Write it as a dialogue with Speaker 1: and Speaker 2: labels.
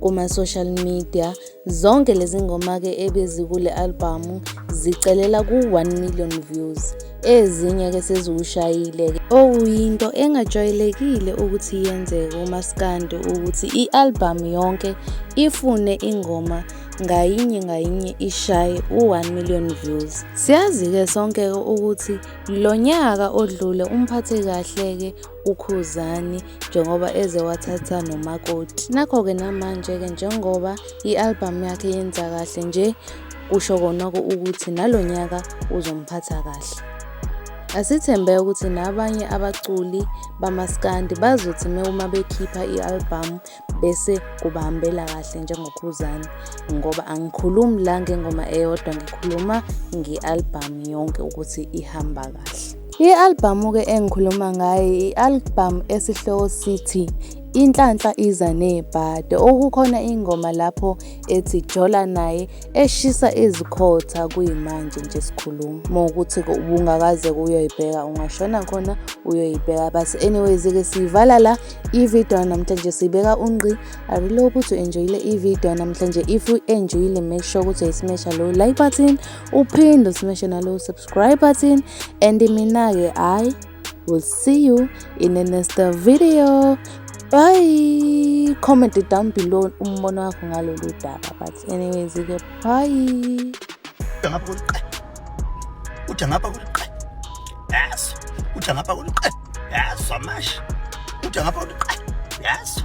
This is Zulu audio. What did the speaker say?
Speaker 1: kuma-social media zonke lezi ngoma-ke ebezikule albhamu zicelela ku-one million views ezinye-ke seziwushayile-ke okuyinto engajwayelekile ukuthi yenzeke umaskandi ukuthi i-albhamu yonke ifune ingoma ngayinye ngayinye ishaye u-one million views siyazi-ke sonke-ke ukuthi lo nyaka odlule umphathe kahle-ke uKhuzani njengoba eze wathatha nomakoti. Nakho-ke namanje-ke njengoba i-albhamu yakhe yenza kahle nje kusho konoko ukuthi nalo nyaka uzomphatha kahle. Asithembe ukuthi nabanye abaculi bamaskandi bazothi uma bekhipha i-albhamu bese kubahambela kahle njengokhuzani ngoba angikhulumi la ngengoma eyodwa ngikhuluma nge-albhamu yonke ukuthi ihamba kahle i-albhamu-ke engikhuluma ngayo i-albhamu esihloko sithi Inhlanhla iza nebhade okukhona ingoma lapho ethi Jola naye eshisa izikhotha kuyimanje nje sikhuluma uma ukuthi ubungakaze kuyoyibheka ungashona khona uyoyibheka but anyways-ke siyivala la I-video yanamhlanje sibeka unqi. I really hope ukuthi enjoyile i-video yanamhlanje. If you enjoyile make sure ukuthi uyisimesha lo like button, uphinde usimeshe nalo subscribe button and mina ke I will see you in the next video. Bye. Comment down below umbono wakho ngalolu daba but anyways ke bye. Ngapha kuliqe.
Speaker 2: Uthi ngapha kuliqe. yaso uthi angapha kuthi qe yaso amashi uthi angapha kuthi qe yaso